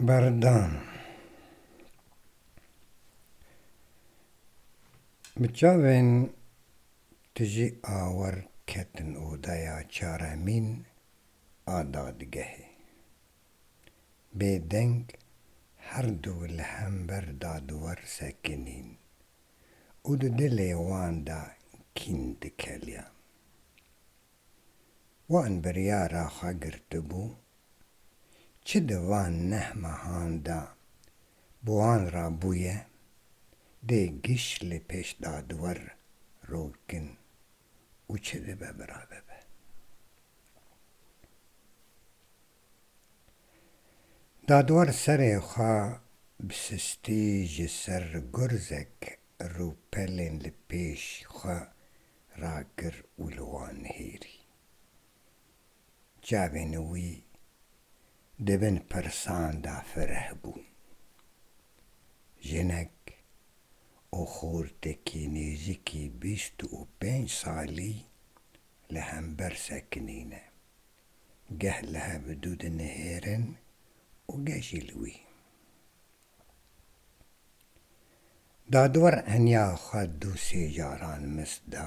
Berdan. Bi çavên tijî awer ketin odeya çaremîn a dadgehê. Bêdeng herdu li hember dadwer sekinîn û di dilê wan de kîn dikeliyan. Wan biryara xwe girtibû, çi di van neh mehan de bi wan re bûye, dê giş li pêş dadwer rol kin û çi dibe bira dibe. Dadwer serê xwe bi sistî ji ser gurzek rûpelên li pêş xwe ragir û li wan nihêrî. Çavên wî di bin pirsan de fireh bûn. Jinek û xortekî nêzîkî bîst û pênc salî li hember sekinîne. Geh li hev du dinihêrin û geh jî li wî. Dadwar henya xwe du sê caran mis da.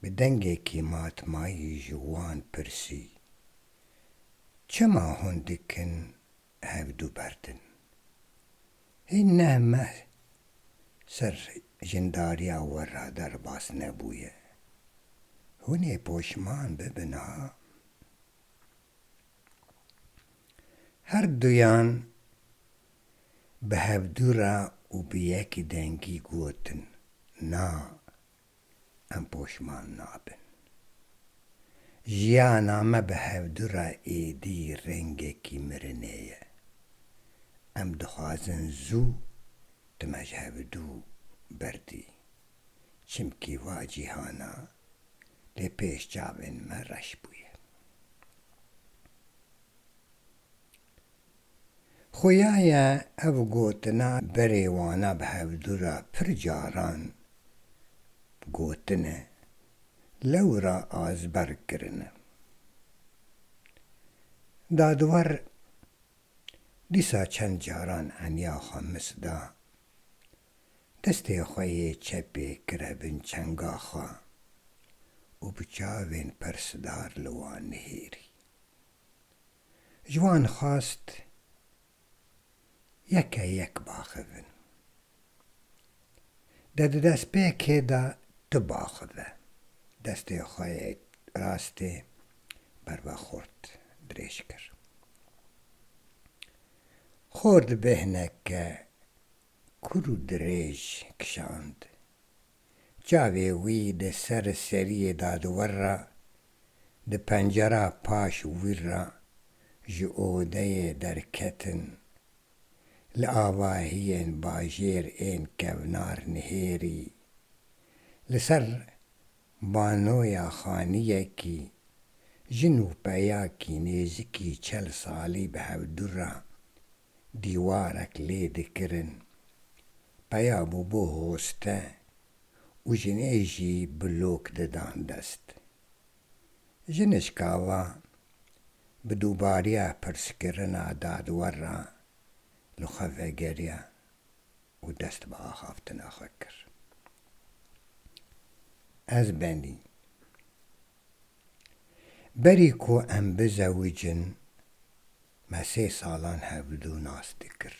Bi dengekî matmayî ji wan pirsî, Çima hûn dikin hevdu berdin? Hê neh meh ser jindariya we re derbas nebûye. Hûnê poşman bibin ha. Her duyan bi hevdû re û bi yekî dengî gotin, Na, em poşman nabin. Jiyana me bi hevdû re êdî rengekî mirinê ye. Em dixwazin zû tu me ji hevdû berdî. Çimkî va cîhana lê pêş çavên me reş bûye. Xuya ye ev gotina berê wana bi hevdû re pir caran gotine, lewra azberg kirine. Dadwer dîsa çend caran eniya xwe mis da. destê xwe yê çepê kire bin çenga xwe û bi çavên pirsdar li wan nihêrî. Ji wan xwest yeke yek baxivin. Di di destpêkê de tu baxive. Destê xwe yê rastê ber ve xort dirêj kir. Xort bêhne ke Kûr û dirêj kişand. Çavê wî di ser seriyê dadiwer ra, di pencera paş wîr ra ji odeyê derketin. Li avahiyên bajêr ên kevnar nihêrî. Li ser banoya xaniyekî, jin û peyakî nêzikî çel salî bi hevdû ra dîwarek lê dikirin, peya bû bo hoste û jinê jî bi lok didan dest. Jinişka va, bi dûbariya pirskirina dadwer ra li xwe vegeriya û dest bi axaftina xwe kir. Ez benî. Berî ku em bizewicin, Me sê salan hevdu nas dikir.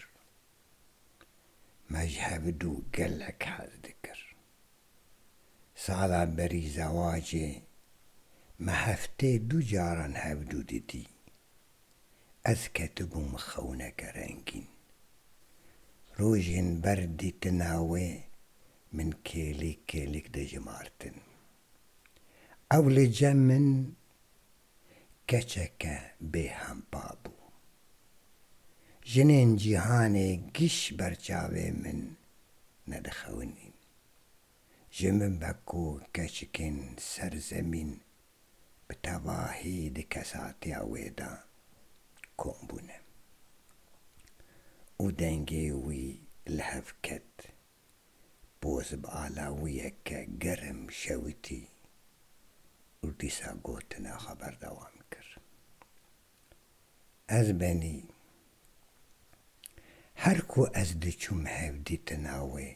Me ji hevdu gelek hez dikir. Sala berî zewacê me heftê du caran hevdu didî. Ez ketibûm xewneke rengîn. Rojên ber dîtina wê min kêlîk kêlîk dijimartin. Ew li cem min keçeke bêhempa bû. Jinên cîhanê giş ber çavê min nedixewinîn. Ji min ve ku keçikên ser zemîn bi tevahî di kesatiya wê de kom bûne û dengê wî li hev ket. poz bi alawiyeke germ şewitî û dîsa gotina xwe berdewam kir, Ez benî her ku ez diçûm hevdîtina wê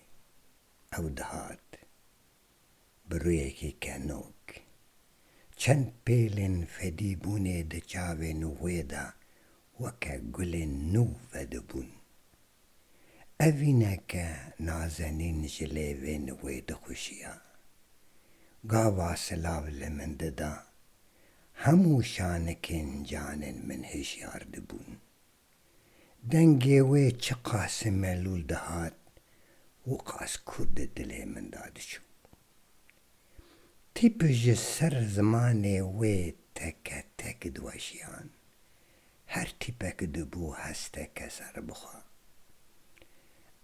ew dihat. bi rûyekî kenok. Çend pêlên fedî bûnê di çavên wê de weke gulên nû vedibûn. Evîneke nazenîn ji lêvên wê dixuşiya. Gava silav li min dida. Hemû şanikên canên min hişyar dibûn. Dengê wê çiqas melûl dihat, wiqas ku di dilê min de diçû. Tîp ji ser zimanê wê teke tek diweşiyan. Her tîpek dibû hesteke serbixwe.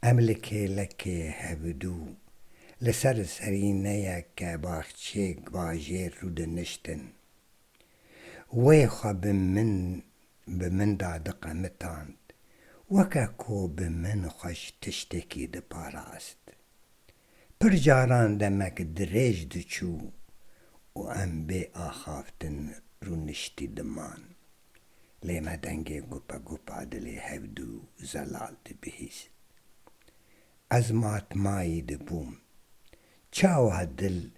Em li kêlekê hevdû li ser serîneyeke baxçeyê bajêr rûdiniştin. Wê xwe bi min bi min da diqemitand, weke ku bi min xwe ji tiştekî diparast. Pir caran demek dirêj diçû û em bê axaftin rûniştî diman. Lê me dengê gupegupa dilê hevdû zelal dibihîst. Ez matmayî dibûm. Çawa dil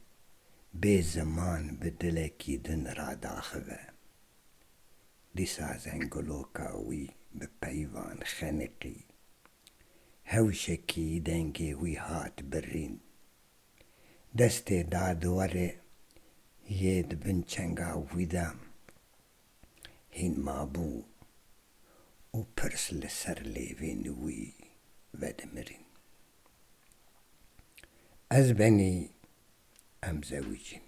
bê ziman bi dilekî din radaxive. Dîsa zenguloka wî bi peyvan xeniqî. Hewşekî dengê wî hat birrîn. Destê da diwarê yê di bin çenga wî de hîn mabû û pirs li ser lêvên wî vedimirîn. Ez benî em zewîc in.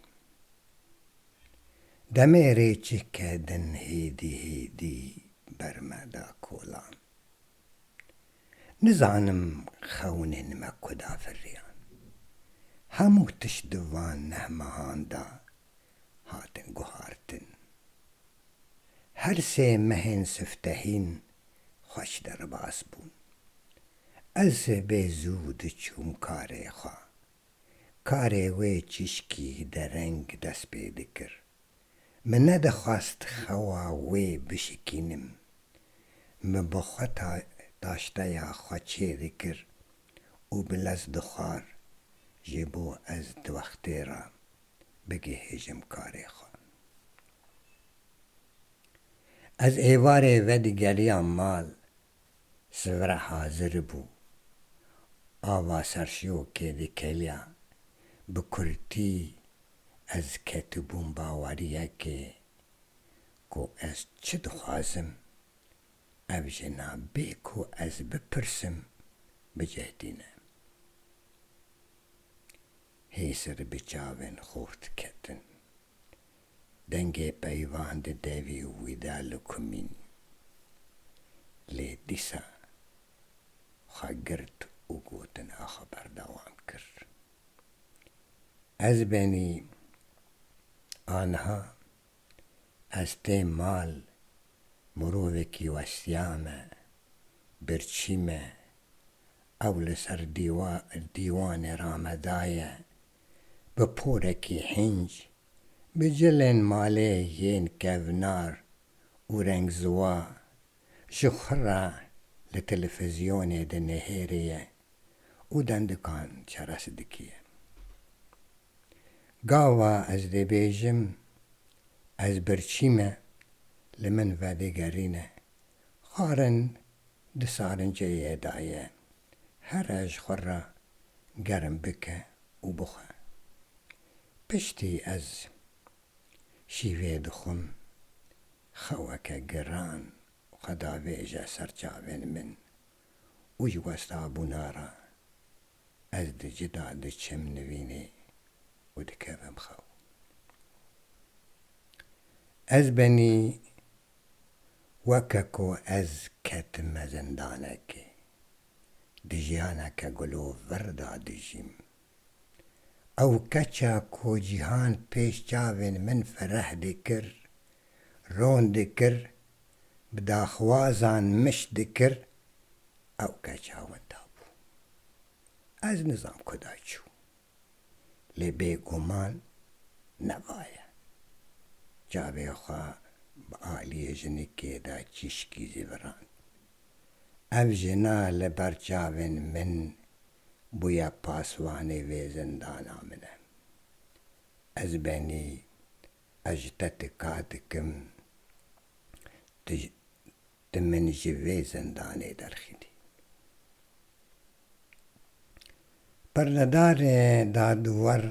Demê rêçike din hêdî hêdî ber me da kolan. Nizanim xewinên me ku da firiyan. Hemû tişt di van neh mehan da hatin guhartin. Her sê mehên siftehîn xweş derbas bûn. Ez sibê zû diçûm karê xwe. Karê wê çîşkî dereng dest pê dikir. Min nedixwast xewa wê bişikînim. Min bi xwe taşteya xwe çê dikir û bi lez dixwar ji bo ez di wextê re bigihêjim karê xwe. Ez êvarê vedigeriya mal Sivra hazir bû. Ava serşiyokê dikeliya. Bi kurtî ez ketibûm baweriyekê ku ez çi dixwazim. Ev jina bê ku ez bipirsim bicihdîne. Hêsir bi çavên xort ketin. Dengê peyvan di devî û wî de li ku mîn. Lê dîsa xwe girt û gotina xwe berdewam kir. Ez benî aniha ez tê mal, mirovekî westiya me, birçî me, ew li ser dîwanê ra me daye bi porekî hînc, bi cilên malê yên kevnar û rengziwa ji xwe re li telefizyonê dinihêriye û dendikan çerez dikiye. Gava ez dibêjim, ez birçî me, li min vedigerîne Xwarin di sarinceyê de ye. Here ji xwe re germ bike û bixwe. Piştî ez şîvê dixwim. Xeweke giran xwe davêje ser çavên min û ji westabûna re ez di ci de diçim nivînê û dikevim xew. Ez benî Weke ku ez ketime zindanekê, di jiyaneke gulo vir de dijîm. Ew keça ku cîhan pêş çavên min fereh dikir, ron dikir, bi daxwazan miş dikir, ew keça winda bû. Ez nizam kuda çû. lê bêguman ne va ye. Çavê xwe bi aliyê jinikê de çîşkî jî virand. Ev jina li ber çavên min bûye paswanê vê zindana min e. Ez benî ez ji te tika dikim, tu Tu min ji vê zindanê derxînî. Perdedarê dadiwer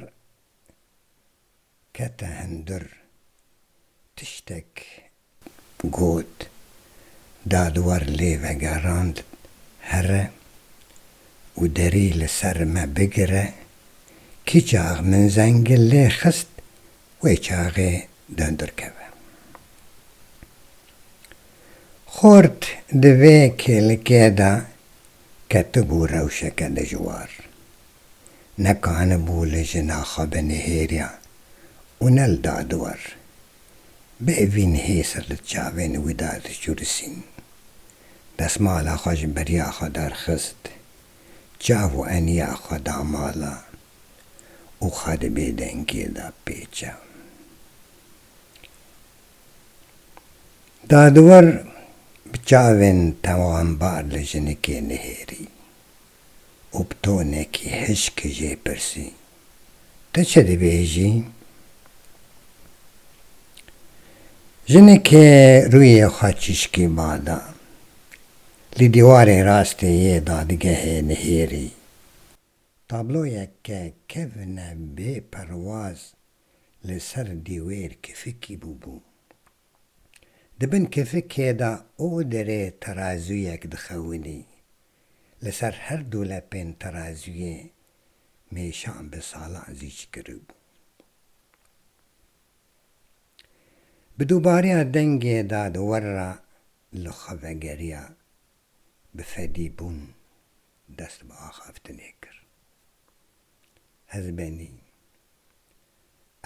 kete hundur. Tiştek got. Dadiwer lê vegerand here û derî li ser me bigire. Kî çax min zengil lê xist, wê çaxê derkeve. Xort di vê kêlikê de ketibû rewşeke dijwar. Nekanibû li jina xwe binihêriya û ne li dadiwer. Bi evîn hêsir li çavên wî de diçûrisîn. Desmala xwe ji beriya xwe derxist. çav û eniya xwe da mala û xwe di bêdengiyê de pêça. Dadwer bi çavên tewambar li jinikê nihêrî û bi tonekî hişk jê pirsî, te çi dibêjî? Jineke rûyê xwe çîşkî bada, li dîwarê rastê yê dadgehê nihêrî. Tabloyek ke kevne bê perwaz li ser dîwêr kifikî bûbû. Di bin kifikê de û derê terazûyek dixewinî. Li ser her du lepên terazûyê mêşan bi salan zîc kiribû. Bi dubariya dengê dadwer re li xwe vegeriya bi fedî bûn dest bi axaftinê kir. Ez benî.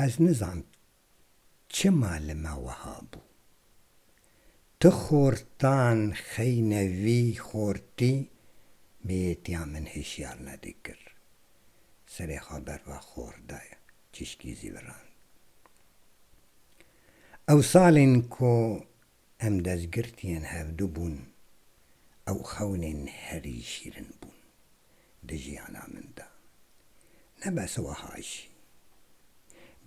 Ez nizam Çima li me weha bû? Tu xortan xeyne vî xortî miyêtiya min hişyar nedikir. Serê xwe ber va xor de çişkî zî virand. Ew salên ku Em dezgirtiyên hevdu bûn, ew xewnên herî şîrin bûn di jiyana min de. Ne bes weha jî,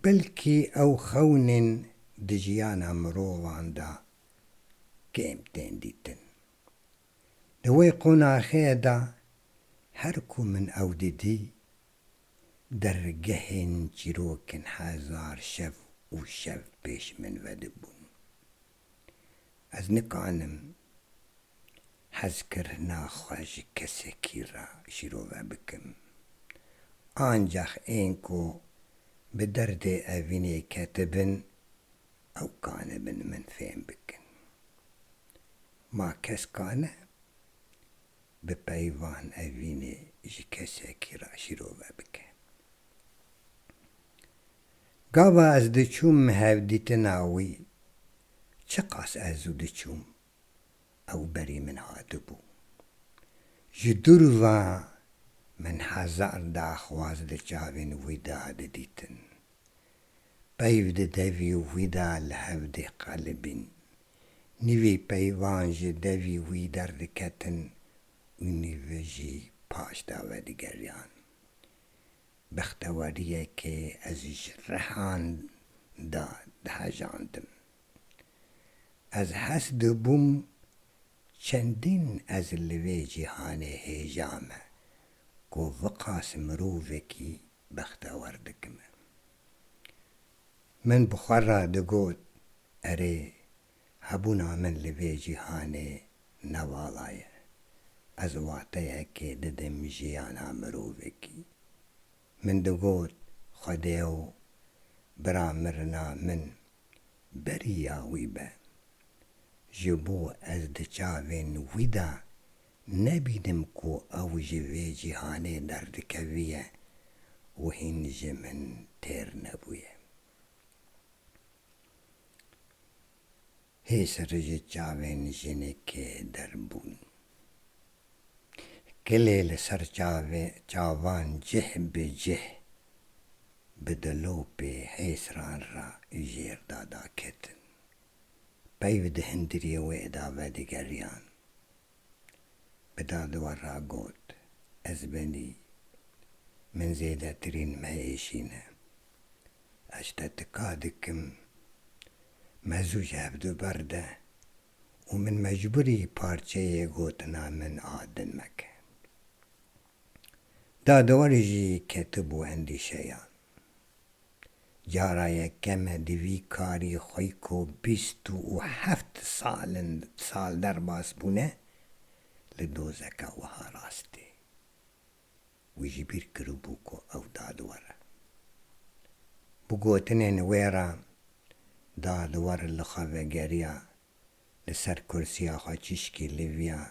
belkî ew xewnên di jiyana mirovan de kêm tên dîtin. Di wê qonaxê de her ku min ew didî, Dergehên çîrokin hezar şev û şev pêş min vedibûn. Ez nikanim hezkirina xwe ji kesekî re şîrove bikim. Ancax ên ku bi derdê evînê ketibin ew kanibin min fêm bikin. Ma keska ne? bi peyvan evînê ji kesekî re şîrove bike. Gava ez diçûm hevdîtina wî, çiqas ez zû diçûm, ew berî min hatibû. Ji dûr ve min hezar daxwaz di çavên wî de didîtin. Peyv di devî wî de li hev dê qelibîn. Nîvî peyvan ji devî wî derdiketin û nîvi jî paş da vedigeriyan. Bexteweriyekê ez ji rihan da dihejandim. Ez hes dibûm çendîn ez li vê cîhanê hêja me ku viqas mirovekî bextewer dikime. Min bi xwe re digot, Erê, hebûna min li vê cîhanê ne wala ye. Ez wateyekê didim jiyana mirovekî. Min digot, Xwedêo, bira mirina min beriya wî be. Ji bo ez di çavên wî de Nebînim ku ew ji vê cîhanê derdikevîye û hîn ji min têr nebûye. Hêsir ji çavên jinekê derbûn. Kilê li ser çavê çavan cih bi cih bi dilopê hêsiran re jêr dada ketin. peyv di hindiriyê wê da vedigeriyan. Bi dadwer re got, Ez benî, min zêdetirîn meyêşîne. Ez te tika dikim, me zû ji hev du berde û min mecbûrî parçeyê gotina min a din meke. Dadwer jî ketibû endîşeyan. Cara yekeme di vî karî xwe ku bîst û heft sal derbas bûne li dozeka wiha rastê. Wî jî bîr kiribû ku ew dadwer e. Bi gotinên wê re dadwer li xwe vegeriya li ser kursiya xwe çîşkî li viya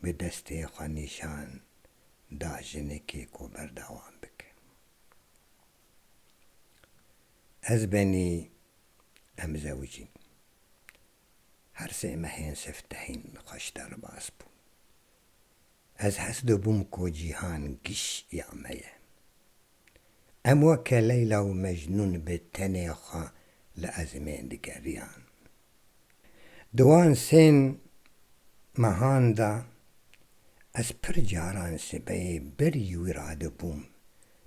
bi destê xwe nîşan da jinekê ku berdewam bikin. Ez benî em zewicîn. Her sê me hên siftehîn xweş derbas bûn. Ez hes dibûm ku cîhan giş ya me ye. Em weke Leyla û Mecnûn bi tenê xwe li ezmê digeriyan. Di wan sê mehan de ez pir caran sibeyê berî wî re dibûm,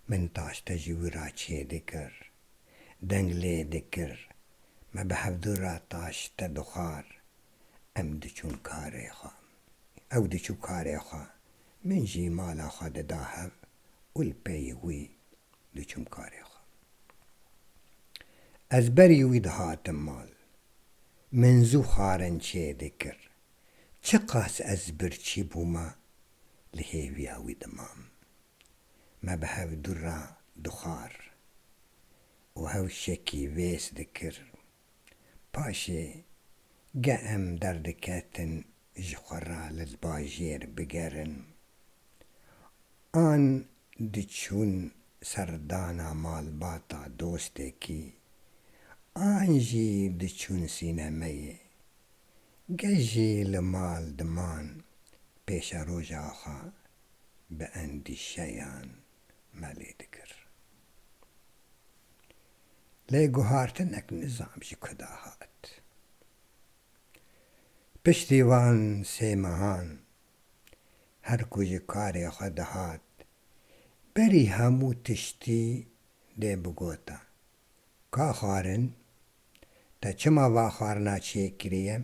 min taşte ji wî re çê dikir, deng lê dikir, me bi hevdu re taşte dixwar, em diçûn karê xwe, ew diçû karê xwe, min jî mala xwe dida hev û li peyê wî diçûm karê xwe. Ez berî wî dihatim mal. Min zû xwarin çêdê kir. Çiqas ez birçî bûma li hêviya wî dimam. Me bi hev dûr ra dixwar û hewşekî vês dikir. Paşê ge em derdiketin ji xwe re li bajêr bigerin, an diçûn serdana malbata dostekî, an jî diçûn sînemeyê, ge jî li mal diman pêşeroja xwe bi endîşeyan me lê dikir. lê guhartinek nizam ji ku da hat. Piştî van sê mehan her ku ji karê xwe dihat berî hemû tiştî dê bigota, Ka xwarin, te çima va xwarina çêkiriye?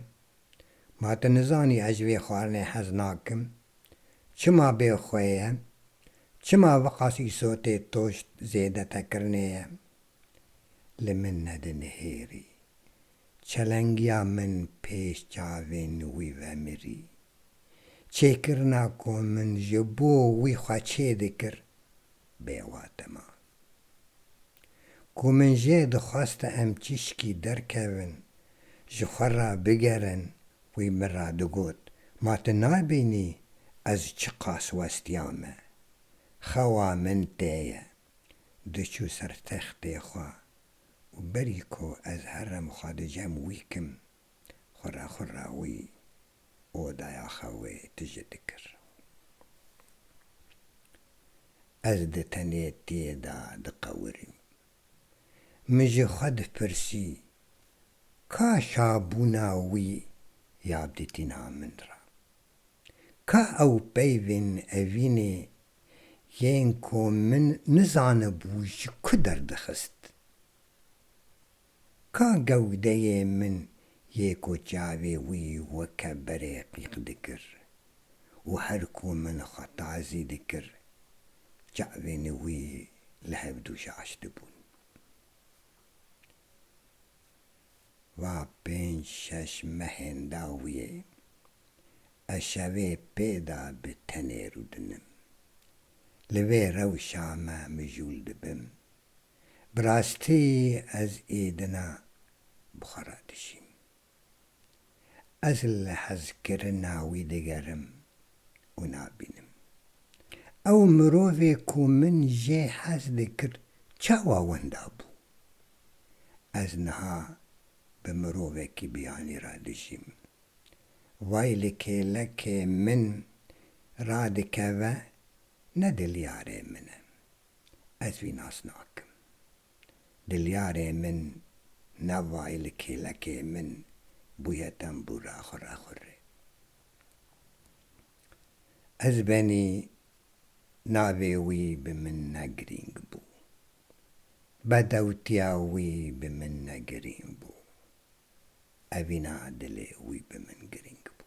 Ma tu nizanî ez ji vê xwarinê hez nakim? Çima bê xwe ye? Çima viqas îso tê toşt zêdetekirinê ye? Li min nedinihêrî. Çelengiya min pêş çavên wî ve mirî. Çêkirina ku min ji bo wî xwe çê dikir, bêwate mat. Ku min jê dixweste em çîşkî derkevin, ji xwe re bigerin, wî min re digot, Ma tu nabînî ez çiqas westiya me? Xewa min tê ye. Diçû ser textê xwe û berî ku ez herim xwe dicem wî kim, xwe re xwe re wî. odaya xwe wê tije dikir. Ez di tenêtiyê de diqewirîm. Min ji xwe dipirsî, Ka çabûna wî ya dîtina min re? Ka ew peyvên evînê yên ku min nizanibû ji ku derdixist? Ka gewdeyê min yê ku çavê wî weke berê qîq dikir û her ku min xwe tazî dikir çavên wî li hevdû şaş dibûn. Va pênc şeş mehên dawiyê ez şevê pê de bi tenê rûdinim. Li vê rewşa me mijûl dibim. Bi rastî ez ê dina bi xwe re dijîm. Ez li hezkirina wî digerim û nabînim. Ew mirovê ku min jê hez dikir çawa wenda bû? Ez niha bi mirovekî biyanî re dijîm. Vay li kêlekê min radikeve ne dilyarê min e. ez wî nas nakim. Dilyarê min Nevay li kêlekê min bûye tembûra xwe rexurê. Ez benî navê wî bi min ne girîng bû. Bedewtiya wî bi min ne girîng bû. Evîna dilê wî bi min girîng bû.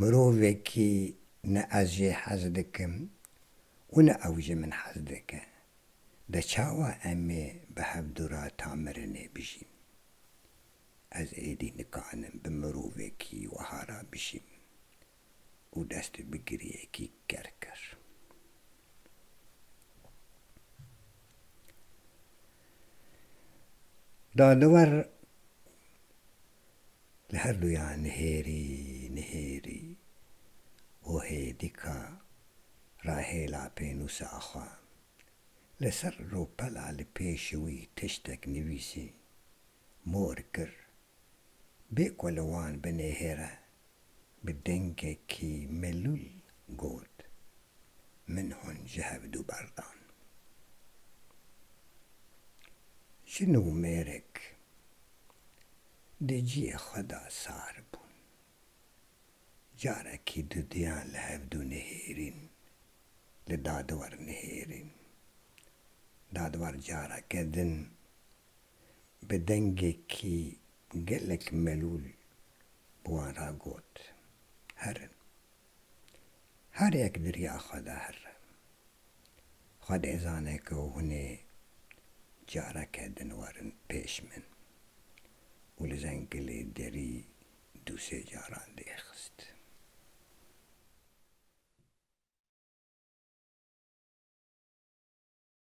Mirovekî ne ez jê hez dikim û ne ew ji min hez dike, de çawa em ê bi hevdûra tamirinê bijîn? Ez êdî nikanim bi mirovekî weha re bijîm û dest bi giriyekî ker kir. Dadiwer Li her duya nihêrî nihêrî û hêdîka rahêla pênûsa xwe. Li ser rûpela li pêşî wî tiştek nivîsî. Mor kir. Bê ku li wan binêhêre bi dengekî melûl got, Min hûn ji hevdu berdan. Jin û mêrik di ciyê xwe de sar bûn. Carekî dudiyan li hevdu nihêrîn, li dadwer nihêrîn. Dadwer careke din bi dengekî Gelek melûl bi wan re got, Herin. Her yek di riya xwe de here. Xwe dê zane ku hûn ê careke din werin pêş min. Û li Zengilê derî du sê caran dê xist.